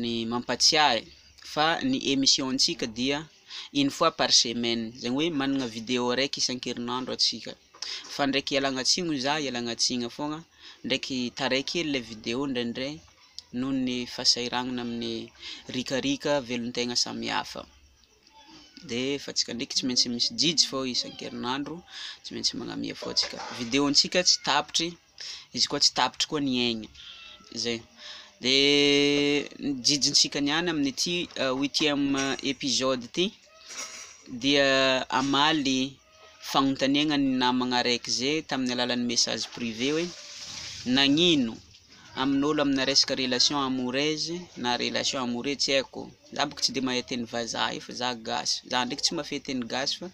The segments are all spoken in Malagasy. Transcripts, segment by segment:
ny mampatsiahy fa ny emission ntsika dia une fois par semaine zany hoe manana video araiky isankerinandro atsika fa ndraiky ialana tsiny hoy za ialana tsiny foana ndraiky taray kely le video ndraindray noho ny fahasahiranana amin'ny rikarika velon-tegna samihafa de fa tsika ndraiky tsy maintsy misy jijy fô isankerinandro tsy maintsy magnamia fô tsika video ntsika tsy tapitry izy koa tsy tapitry koa ny aigny zay de ny jijintsika niany amin'ity huitième episode ty dia amaly fagnontaniagna ny namagna araiky zay tamin'ny alalan'ny message privé hoe nagnino amin'olo amina resaka relation amoureuse na relation amoureux tsy haiko Za bôka tsy de mahay teny vazaha io fa za gasy, za ndraiky tsy mahafehy teny gasy fa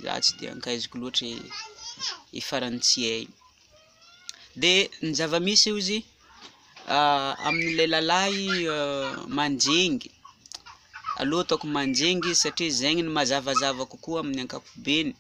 za tsy de ankaiziko loatra i farantsiay, de ny zavamisy ozy amle lalahy manjengny aleo ataoko manjengny izy satria zegny no mazavazava kokoa amin'ny ankapobeny.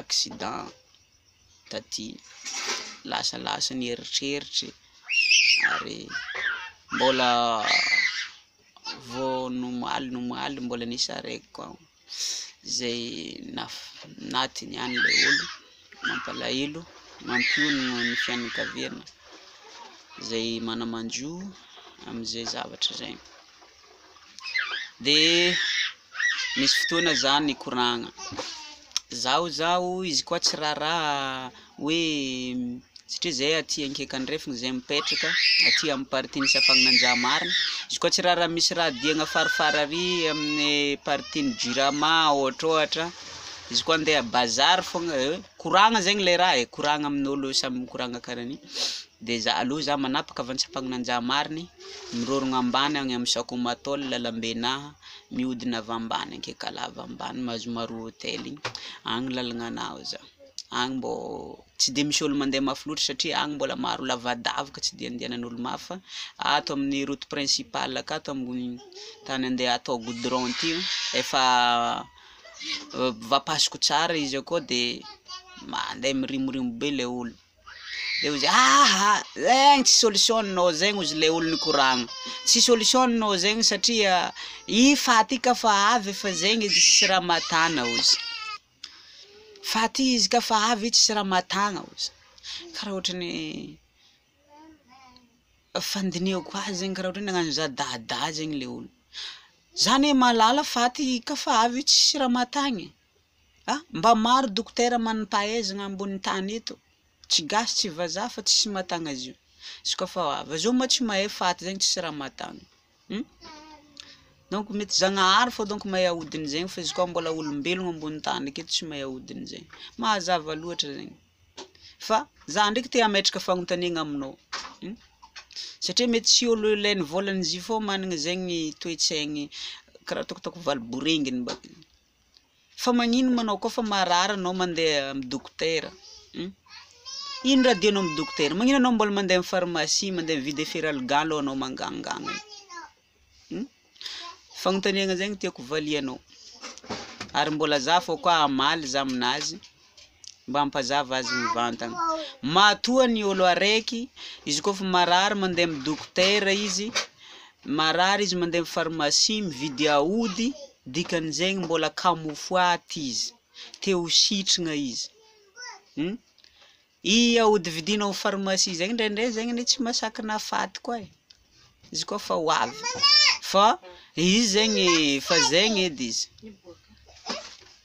accident taty, lasalasa ny eritreritry ary mbola vao nomaly nomaly mbola nisarahiko ao izay natiny ihany ilay olona, mampalahelo, mampionona ny fianakaviana izay mana-manjo amin'izay zavatra izay. de misy fotoana za mikoragna, zaho zaho izy koa tsy raraha hoe satria zay aty akaiky andrefana zay mipetraka aty amin'ny partie misy ampagnanjamarina, izy koa tsy raraha misy raha diagna farifary ary amin'ny partie ny jirama ohatrohatra, izy koa ndeha bazary fôgna eh, koragna zegny le raha eh, koragna amin'olo samy mikoragna karaha an'io, de za aleo za manapaka avy any Tsiampagnamanjamarigny. Mirorogna ambany agny am Sakomatol lalambe na mihodina avy ambany Ankekalava ambany Mazomaroa hotel igny, agny lalagna anao za, agny mbô tsy de misy ôlo mande mafy loatra satria agny mbôla maro lavadavaka tsy de andianan'ôlo mafy fa ato amin'ny route principale akato ambony tany ande atao goudron ty efa vapasoka tsara izy akao de mande mirimorimo be le ôlo. de ozy aa zegny tsy solution-nao zegny ozy le olo nikoragna, tsy solution-nao zegny satria i faty i ka fa avy efa zegny izy tsisy raha mahatana ozy, faty izy ka fa avy i tsisy raha mahatagna ozy, karaha ohatrany fandinihako azy zegny karaha ohatrany nagnano za dada zegny le olo, za ne mahalala faty i ka fa avy i tsisy raha mahatagna e. a! mba maro dokotera manam-pahaizagna ambony tany eto, tsy gasy tsy vazaha fa tsisy mahatagna zio, izy koa fa ho avy, zao moa tsy mahay faty zegny tsisy raha mahatagna hum! donc mety zagnahary fô donc mahay ahodiny zegny fa izy koa mbola olombelogno ambony tany aketo tsy mahay ahodiny zegny, mahazava loatra zegny, fa za ndraiky te hametraka fagnotaniagna aminao hum! satria mety tsy olo ilay nivôlagna zio fô magnana zegny toetsaigny karaha ataoko ataoko valo borenginy mbakeo. fa magnino ma anao koa fa marary anao mandeha am dokotera hum ino raha dianao am dokotera magnino anao mbola mandeha am pharmacie mandeha mividy eferal gan lo anao mangangagna io hum fagnontaniagna zay no tiako valianao ary mbola za fô koa hamaly za aminazy Mba ampazava azy mivantana. Matoa ny olo araiky, izy koa fa marary mandeha amin'ny dokotera izy, marary izy mandeha amin'ny pharmacie mividy aody, dikan'izegny mbola camouflage izy, te ho sitrigna izy. Hum? I aody vidinao amin'ny pharmacie zegny ndraindray zegny anie tsy masakana faty koa e, izy koa fa ho avy. Fa izy zegny, fa zegny edy izy.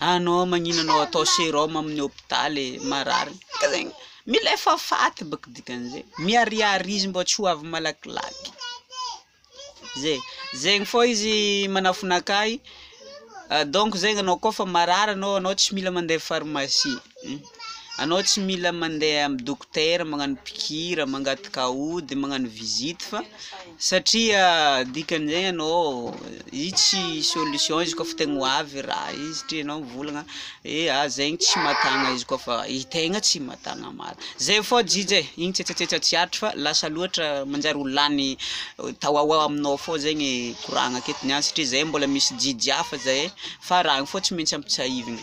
Anao magnino anao atao serum amin'ny hopitaly marary ka zegny mila efa faty bôka dikan'izay miharihary izy mbô tsy ho avy malakilaky zay, zegny fô izy manafina akay donc zegny anao koa fa marary anao anao tsy mila mandeha pharmacie. Anao tsy mila mandeha amin'ny dokotera magnano pikira, mangataka ody, magnano visite fa satria dikan'izay anao io tsy solution izy koa fa tegna ho avy raha io satria anao mivolagna hoe ah zegny tsy mahatagna izy koa fa i tegna tsy mahatagna marina, zay fao jija e, igny tsetsatsetsa tsy aritry fa lasa loatra manjary ho lany tao ho ao aminao fao zegny koragna aketo niany satria zay mbola misy jijy hafa zay fa raha io fao tsy maintsy ampitsiahivina.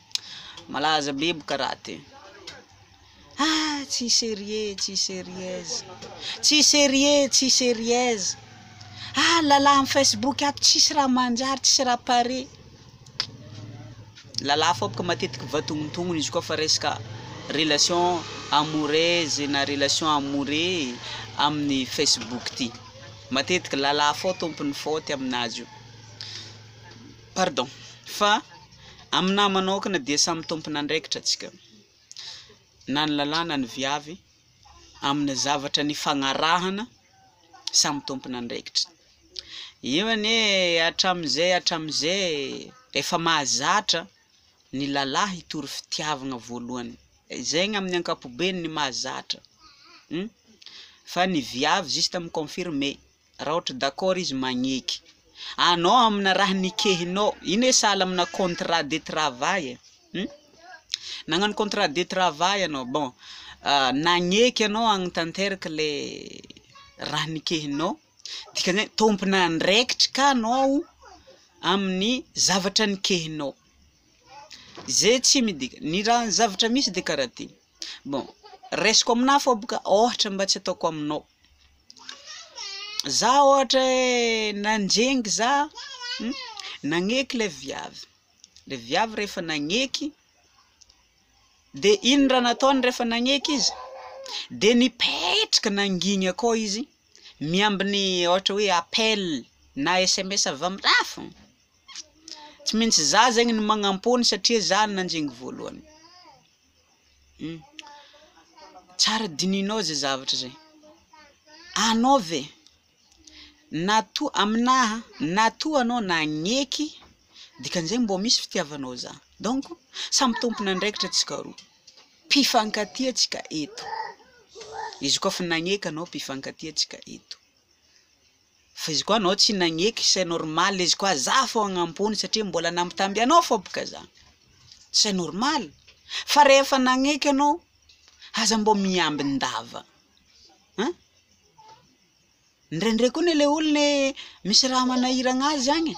Malaza be boka raty e. Ah tsy serieux tsy serieuse tsy serieux tsy serieuse ah lala am facebook ato tsisy raha manjary tsisy raha pare lala fao boka matetiky vatognontognony izy koa fa resaka relation amoureuse na relation amoureux amin'ny facebook ty matetiky lala fao tompony faute aminazy io pardon fa Aminahy manaokana dia samy tompon'andraikitra antsika, na ny lalah na ny viavy, amin'ny zavatra nifagnarahana, samy tompon'andraikitra. Io anie hatramin'izay hatramin'izay efa mahazatra ny lalah hitory fitiavagna voalohany, zegny amin'ny ankapobeny ny mahazatra, fa ny viavy juste mi-confirmer. Raha ohatry d'accord izy magneky anao amina raha nikehinao, iny hoe sahala amina contrat de travail e, hum, nagnano contrat de travail anao, bon nagneky anao hagnitanteraka le raha nikehinao, dikan'izay tompon'andraikitry ka anao amin'ny zavatra nikehinao, zay tsy midika, ny raha ny zavatra misy de karaha ty, bon raisiko aminah fa boka ohatra mba tsy ataoko aminao, za ohatra hoe nanjenggy za nagneky le viavy le viavy rehefa nagneky de ino raha nataony rehefa nagneky izy de nipetraka nangigny akao izy miambigny ohatra hoe appel na sms avy am rah fôgna tsy maintsy za zegny no magnampony satria za no nanjenggy voalohany Tsara dinihinao zay zavatra zay, anao ve na toa aminaha na toa anao nagneky dikan'izay mbô misy fitiavanao za, donc samy tompon'andraikitra tsika roa, mpifankatia tsika eto, izy koa fa nagneky anao mpifankatia tsika eto. Fa izy koa anao tsy nagneky c'est normal izy koa za fô agnampony satria mbola nambitamby anao fô boka za c'est normal fa rehefa nagneky anao aza mbô miambin-dava an! Ndraindray koa ne le olona e misy raha manahiragna azy agny e!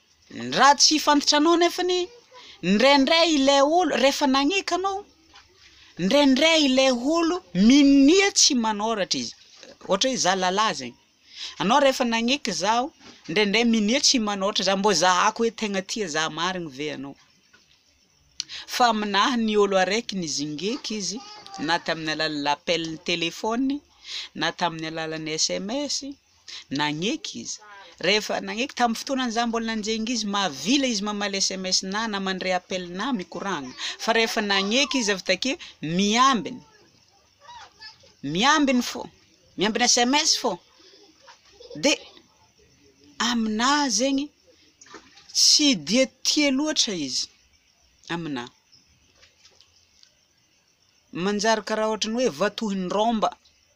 Raha tsy fantranao nefany, indraindray ilay olo, rehefa nagneka anao, indraindray ilay olo minia tsy manoratra izy, ohatra hoe za lalahy zegny, anao rehefa nagneky zaho, indraindray minia tsy manoratra za, mbô zahako hoe tegna tia za marigny ve anao, fa aminaha ny olo araiky nizingiky izy na tamin'ny alalan'ny appel telefaony, na tamin'ny alalan'ny sms, Nagneky izy. Rehefa nagneky, tamin'ny fotoana izaho mbola nanjenga izy, mahavila izy mamaly sms na na mandre appel na mikoragna. Fa rehefa nagneky izy avy takeo, miambiny. Miambiny fô, miambiny sms fô. De aminà zegny, tsy dia tia loatra izy aminà. Manjary karaha ohatran'ny hoe vatohin'ny rômba.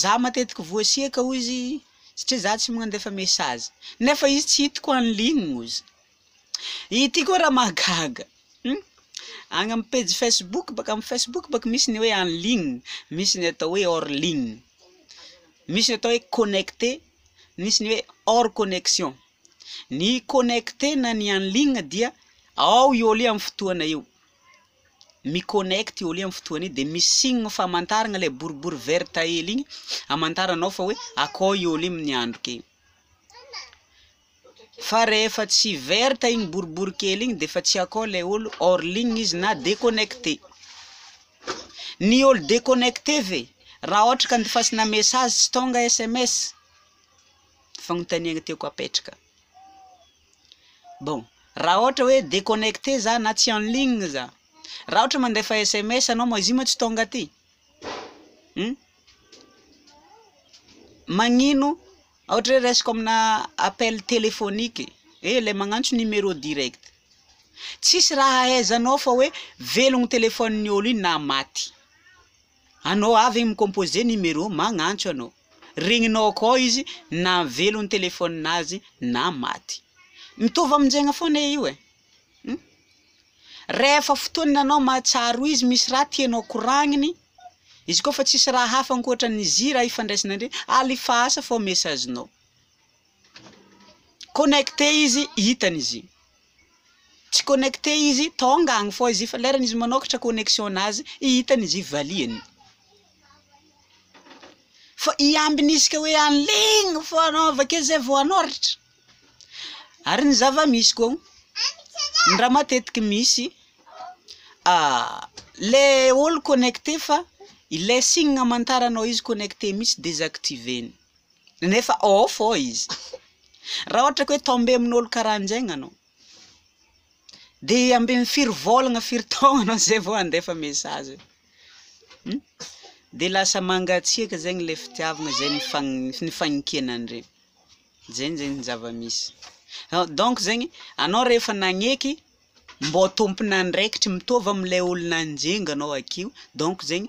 Za matetiky voasiaka hoy izy satria za tsy mandefa message nefa izy tsy hitako en ligne ozy. Ity koa raha mahagaga hum agny am pejy facebook baka am facebook baka misy ny hoe en ligne misy ny atao hoe hors ligne, misy ny atao hoe connecter misy ny hoe hors connection, ny connecter na ny en ligne dia ao i ôlo io am fotoana io. mi-connect io aloha am fotoana io de misy signe famantaragna le boribory verte hely igny amantaranao fa hoe akao i ôlo igny miandroka igny, fa rehefa tsy verte igny boribory kely igny defa tsy akao le ôlo hors ligne izy na deconnecte, ny ôlo deconnecte ve? Raha ôhatra ka andefasana message tsy tônga sms? Fagnontaniagna tiako apetraka. Bon, raha ohatra hoe deconnecter za na tsy en ligne za, raha ohatra mandefa sms anao moa izy io moa tsy tonga aty? Hum? Magnino ohatra hoe raisiko amina appel téléphonique eh le magnantso numéro direct, tsisy raha ahaizanao fa hoe velogno téléphone-ny olo iny na maty. Anao avy mi-composer numéro magnantso anao. Regninao akao izy na velo ny téléphone azy na maty. Mitovy aminjegna foana io e. Hum. Rehefa fotoana anao mahatsiaro izy misy raha tianao koragniny, izy koa fa tsisy raha hafa ankoatran'ny zira ifandraisana ndry, alefasa fô message-nao. Connecté izy hitany izy iny. Tsy connecté izy tonga agny fô izy fa lerany izy manôkatra connexion nazy hitany izy valiany. Fa i ambiny izy ka hoe en ligne fô anao avake zay vao anôratra. Ary ny zava-misy koa ny raha matetiky misy le olo connecté fa ilay signe amantaranao izy connecté mintsy désactiver-ny. nefa ao fô izy, raha ohatra ka hoe tombé amin'olo karahan'jegny anao, de ambin'ny firy vôlagna firy taogna anao zay vao handefa message um, de lasa mangatsiaka zegny le fitiavagna zay nifagn- nifagnenkenan-dre, zegny zegny ny zava-misy, donc zegny anao rehefa nagneky mbô tompon'andraikitry mitovy am'le olo nanjinga anao akio, donc zegny.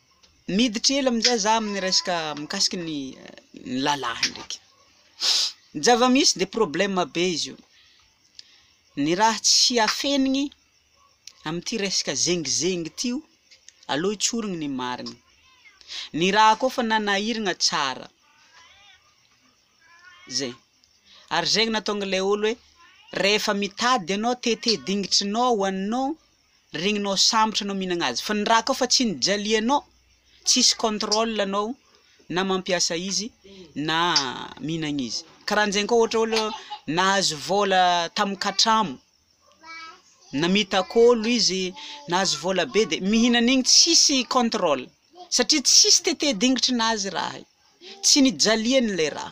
Miditra ela amin'izay za amin'ny resaka mikasiky ny ny lalahy ndraiky. Ny zava-misy de problema be izy io, ny raha tsy afenigny amin'ity resaka zengizengy ty o, aleo hitsorigny ny marigny, ny raha koa fa nanahiragna tsara, zay. Ary zay no nahatonga le olo hoe rehefa mitady ianao te te dingitrinao ho anao, Regninao sambotra anao mihinagna azy fa ny raha koa fa tsy nijalianao tsisy contrôle anao na mampiasa izy na mihinagna izy karanjegny koa ohatra olo nahazo vôla tamy katramo namitak'olo izy nahazo vôla be de mihina an'igny tsisy contrôle satria tsisy tete dingitrinazy raha io tsy nijaliany le raha.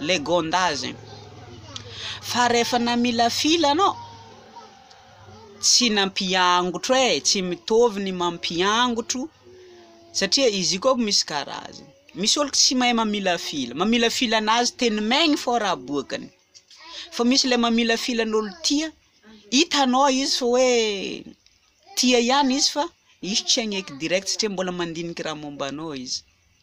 legende azy fa rehefa namilafila anao tsy nampiangotro e tsy mitovy ny mampiangotro satria izy io koa misy karazany misy olo tsy mahay mamilafila mamilafila anazy teny maigny fô raha aboakany fa misy le mamilafila an'olo tia hitanao izy fa hoe tia ihany izy fa izy tsy hagneky direct satria mbola mandiniky raha momba anao izy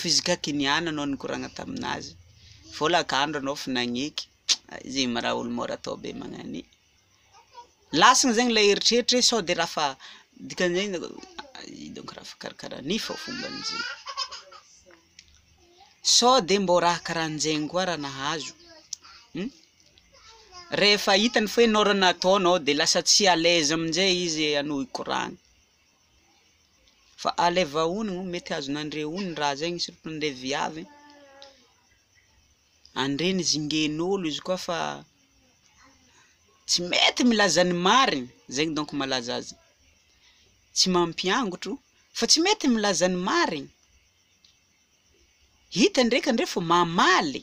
fizika kiniana no nikoragna taminazy vola kandro anao fa nagneky zegny ma raha olo mora atao be magnany lasiny zegny le eritreritra e sao de raha fa dikan'izay de ino dônko raha fa karakara ny fô fomban'izay sao de mbô raha karanjegny koa raha nahazo rehefa hitany fa hoe nôrana ataonao de lasa tsy à l'aise amizay izy anao hikoragna. Fa alaiva ony moa mety azonandre ony raha zegny surtout ndre viavy e, andre ny zingen'olo izy koa fa tsy mety milaza ny marigny, zegny donko malaza azy, tsy mampiangotro fa tsy mety milaza ny marigny, hita ndreka ndre fa mamaly.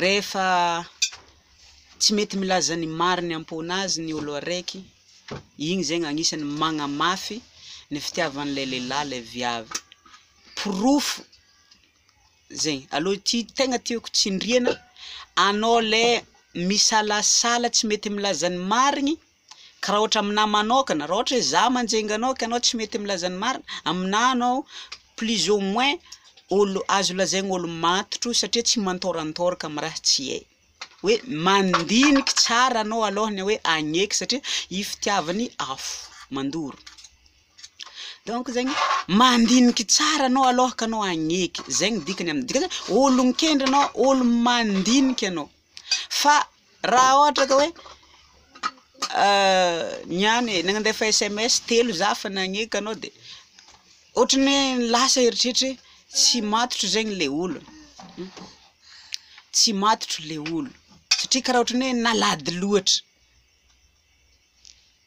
Rehefa tsy mety milaza ny mariny am-pona azy ny olo araiky, igny zegny agnisany magnamafy ny fitiavan'ilay lehilahy ilay viavy. Porofo zegny. Aleo ity tegna tiako tsindriana, anao lay misalasala tsy mety milaza ny marigny, Ka raha ohatra aminà manokana, raha ohatra hoe za manjenga anao ka anao tsy mety milaza ny marina, aminà anao plus ou moins olo azo lazaigna olo matotro satria tsy mantôrantôraka amy raha tsy hay, hoe mandiniky tsara anao alôhany hoe agneky satria i fitiavany afo mandoro, donc zegny mandiniky tsara anao alôhaka anao agneky, zegny dikany am- dikany hoe olon-kendry anao, olo mandiniky anao. Fa raha ohatra ka hoe niany e, nandefa sms telo za fa nagneka anao de otrany hoe lasa eritreritra hoe tsy matotra zegny le olo, tsy matotra le olo satria kara otrany hoe nalady loatra.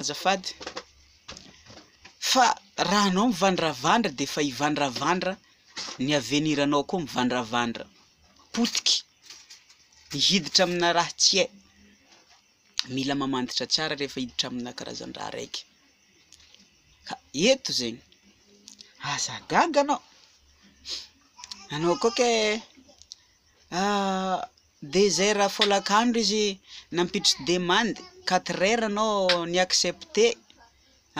azafady fa raha anao mivandravandra dia efa hivandravandra ny avenir anao koa mivandravandra potiky ny hiditra amina raha tsy hay mila mamantatra tsara rehefa hiditra amina karazan-draha raiky ka eto zegny aza gaga anao anao koa kay ah Dezera folakandro izy nampiditry demande quatre heures anao ni accepter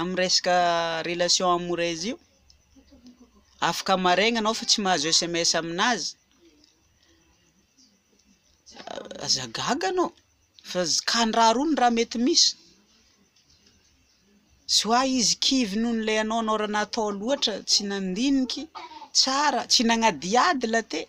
am resaka relation amoureuse io, afaka maraigna anao fa tsy mahazo sms aminazy, aza gaga anao fa kandraha rony raha mety misy, tsy hoa izy kivy noho le anao anao raha natao loatra tsy nandiniky tsara, tsy nagnadihady la teo.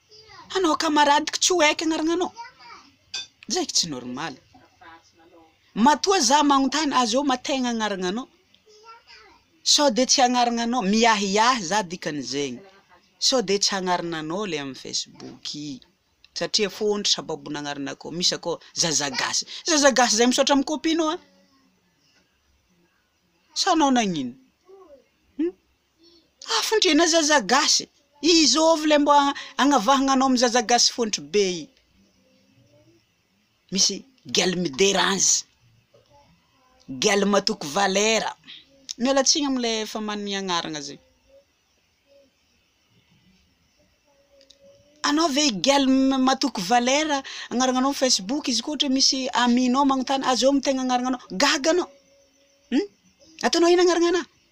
Anao camarade ko tsy ho aiky agnarana anao zay ko tsy normal matoa za magnontany azy eo ma tegna agnarana anao sao de tsy agnarana anao miahiahy za dikany zegny sao de tsy agnarana anao le amy facebook satria fôntry sababony agnarana akao misy akao zaza gasy zaza gasy zay misaotra amy copie nao an sa anao nagnino. Afondrena zaza gasy, izôvy le mbô agnavahagna anao amy zaza gasy fôntry be i, misy gel midera azy, gel matoky valera, miala tsiny amy le efa manome agnarana zay, anao ve i gel matoky valera agnaragnanao amy facebook izy koa ohatra misy ami-nao magnontany azôvy ny tegna agnaragnanao, gaga anao, um ataonao ino agnarana anaha.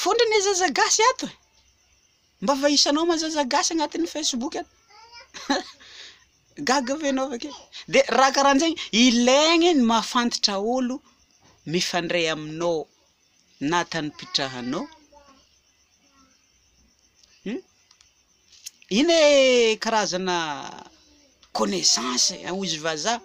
Fondro ne zaza gasy ato e! Mba vahisanao ma zaza gasy agnatin'ny facebook ato? Gaga ve enao avake? De raha karanjegny ilaigny ny mahafantatra olo mifandray aminao na tany mpitrahanao hum ina ee karazana connaissance hoy izy vazaha.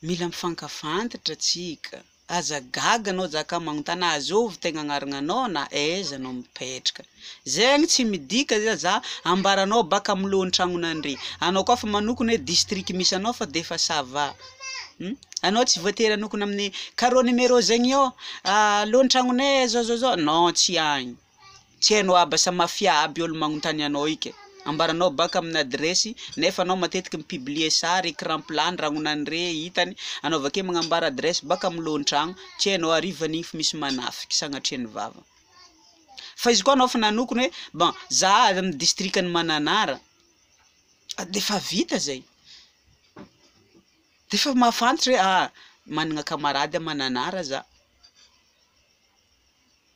Mila mifankafantatra tsika. Aza gaga anao jaka magnontana azy ovy tegna agnaragnanao na aiza anao mipetraka. Zegny tsy midika zay za ambaranao baka am lohan tragnonandre. Anao koa fa manokona hoe district misy anao fa defa ça va. Hum anao tsy voatery hanokona amine carreau numéro zegny eo lohan tragnonay zao zao zao non tsy agny. Tsy hainao aby sa mafia aby olo magnontany anao ika. Ambaranao baka amina adiresy nefa anao matetiky mi publier sary, ecran plat, ny ragnonany re hitany anao vakeo magnambara adiresy baka am lohantragno, tsy hainao ary iva nify misy manafiky sagnatria ny vava. Fa izy koa anao efa nanokona hoe bon za avy am district ny mananara defa vita zay, defa mahafantatra hoe ah managna camarade a mananara za.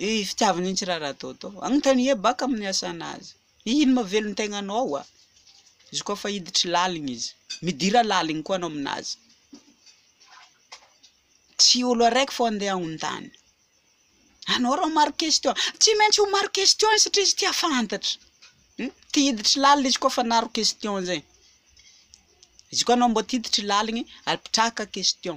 Ny fitiavany an'i Raradodo. Anontania baka amin'ny hasana azy. Ino mahavelo ny tegnanao hoa? Izy koa fa hiditry laligny izy. Midira laligny koa anao aminazy. Tsy olo araiky fô andeha agnontany. Anao rô maro question. Tsy maintsy ho maro question izy satria izy tia fantatra. Hum, tia hiditry lalina izy koa fa naro question zegny. Izy koa anao mbô ty hiditry laligny, apitrahaka question.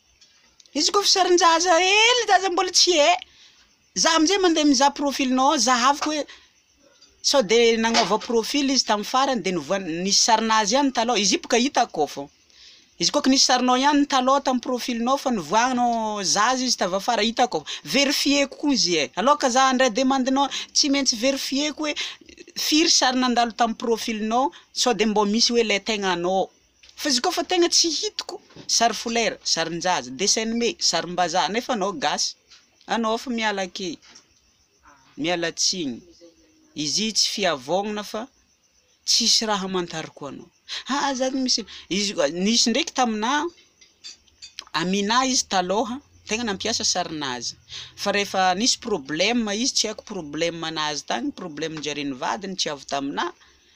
Izy koa efa sarin-jaza hely zaza mbola tsy he. Za amin'izay mandeha mizaha profilinao ao zahaviko hoe sao de nanaova profil izy tamin'ny farany de nivoa- nisy sarinazy ihany taloha, izy io boka hitako ao fô, izy koa ka nisy sarinao ihany taloha tamin'ny profilinao fa nivoahana zaza izy tavy afara hitako ao, verifier-ko koa izy e, aleo ka za handray demandinao tsy maintsy verifier-ko hoe firy sary nandalo tamin'ny profilinao sao de mbô misy hoe le tegna anao. Fa izy koa fa tegna tsy hitako sary folera, sarinjaza, dessin anime, sarimbazaha nefa anao gasy anao fa miala akey, miala tsigny, izy io tsy fiavognana fa tsisy raha amantarako anao, ha za tsy misy, izy koa, nisy ndraiky taminà, aminà izy talôha tegna nampiasa sarinazy, fa rehefa nisy problema izy tsy haiko problema nahazo tagny, problema nijarian'ny vadiny tsy avy taminà.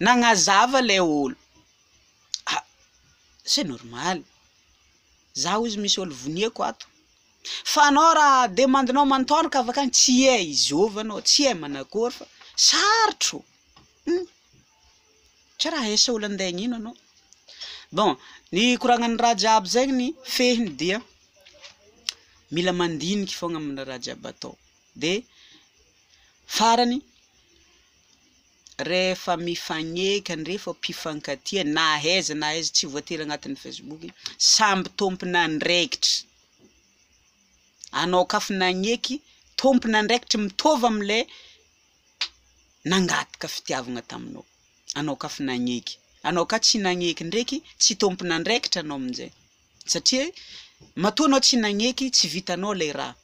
Nagnazava ilay olo, ah, c'est normal, za ozy misy olo vonieko ato, fa anao raha demandinao manotolo ka avy akany tsy hay izôva anao, tsy hay manakôry fa sarotro, hum, tsy raha hay sao lande agnino anao, bon ny koragnan'ny raha jiaby zegny fehiny dia mila mandiniky fôgna amina raha jiaby atao, de farany, Rehefa mifagneka an rehefa mpifankatia na aiza na aiza tsy voatery agnatin'ny facebook samby tompon'andraikitry anao kaf nagneky tompon'andraikitry mitaova amle nangataka fitiavagna taminao anao kaf nagneky anao ka tsy nagneky ndraiky tsy tompon'andraikitra anao aminjay satria matoa anao tsy nagneky tsy vitanao lay raha,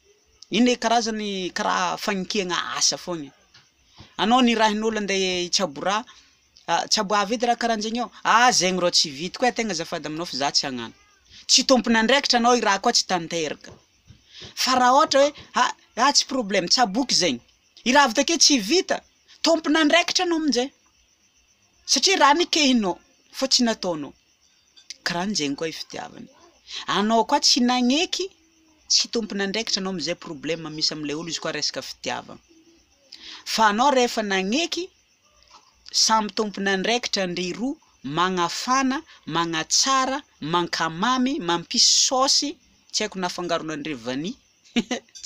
iny le karazany karaha fagnekegna asa fogna e, anao nirahin'olo ande hitsabo raha a tsabo avy edy raha karanjegny eo, ah zegny rô tsy vitako e tegna azafady aminao fa za tsy hagnano, tsy tompon'andraikitra anao i raha koa tsy tanteraka, fa raha ôhatra hoe ha ah tsy problema tsaboiko zegny, i raha avy takeo tsy vita, tompon'andraikitra anao aminjay, satria raha nekehinao fa tsy nataonao. Kran zegny koa i fitiavana. Anao koa tsy nagneky, tsy tompon'andraikitra anao amzay problème misy amle olo izy koa resaka fitiavana. Fa anao rehefa nagneky, samy tompon'andraikitra ndry roa, magnafana, magnatsara, mankamamy, mampisy saosy, tsy haiko na afangaronandre vanille.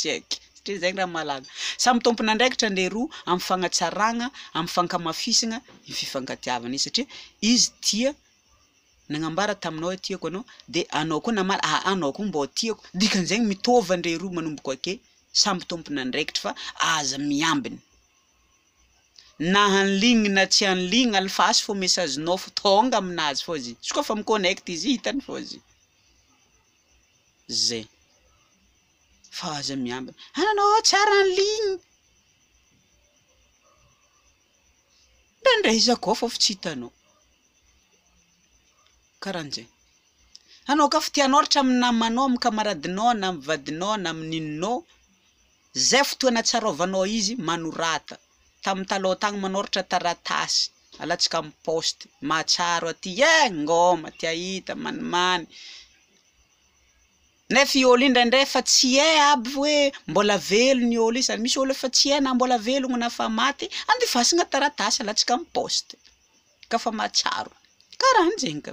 Check! Satria izay angamba malaza. Samy tompon'andraikitra ny roa amin'ny fagnatsaragna, amin'ny fankamafisagna ny fifankatiavana izy satria izy tia nagnambara taminao hoe tiako anao de anao koa namaly aa anao koa mbô tiako, dikan'izegny mitôva ndre roa manomboko ake samy tompon'andraikitry fa aza miambigny. Na anligny na tsy anligny alefaso fô messagenao fô tônga aminazy fô izy, izy koa fa mi-connect izy hitany fô izy. zay fa aza miambina ah nanao aho tsara ny ligne mba ndray iza koa fa fa tsy hitanao karanjay hanao ka fitianao raha hatramin'ny namanao amin'ny kamaradinao na amin'ny vadinao na amin'ny ininao Izay fotoana tsaroavanao izy manorata tamin'ny taloha tagny manoratra taratasy alatsaka amin'ny poste mahatsiaro aty eh ngoma te ahita manimany nefa i oly indraindray efa tsy hay aby hoe mbola velona i oly zany misy olo efa tsy hay na mbola velogno na fa maty andivasagna taratasy alatsaka amin'ny poste ka fa mahatsiaro karahanjegny ka.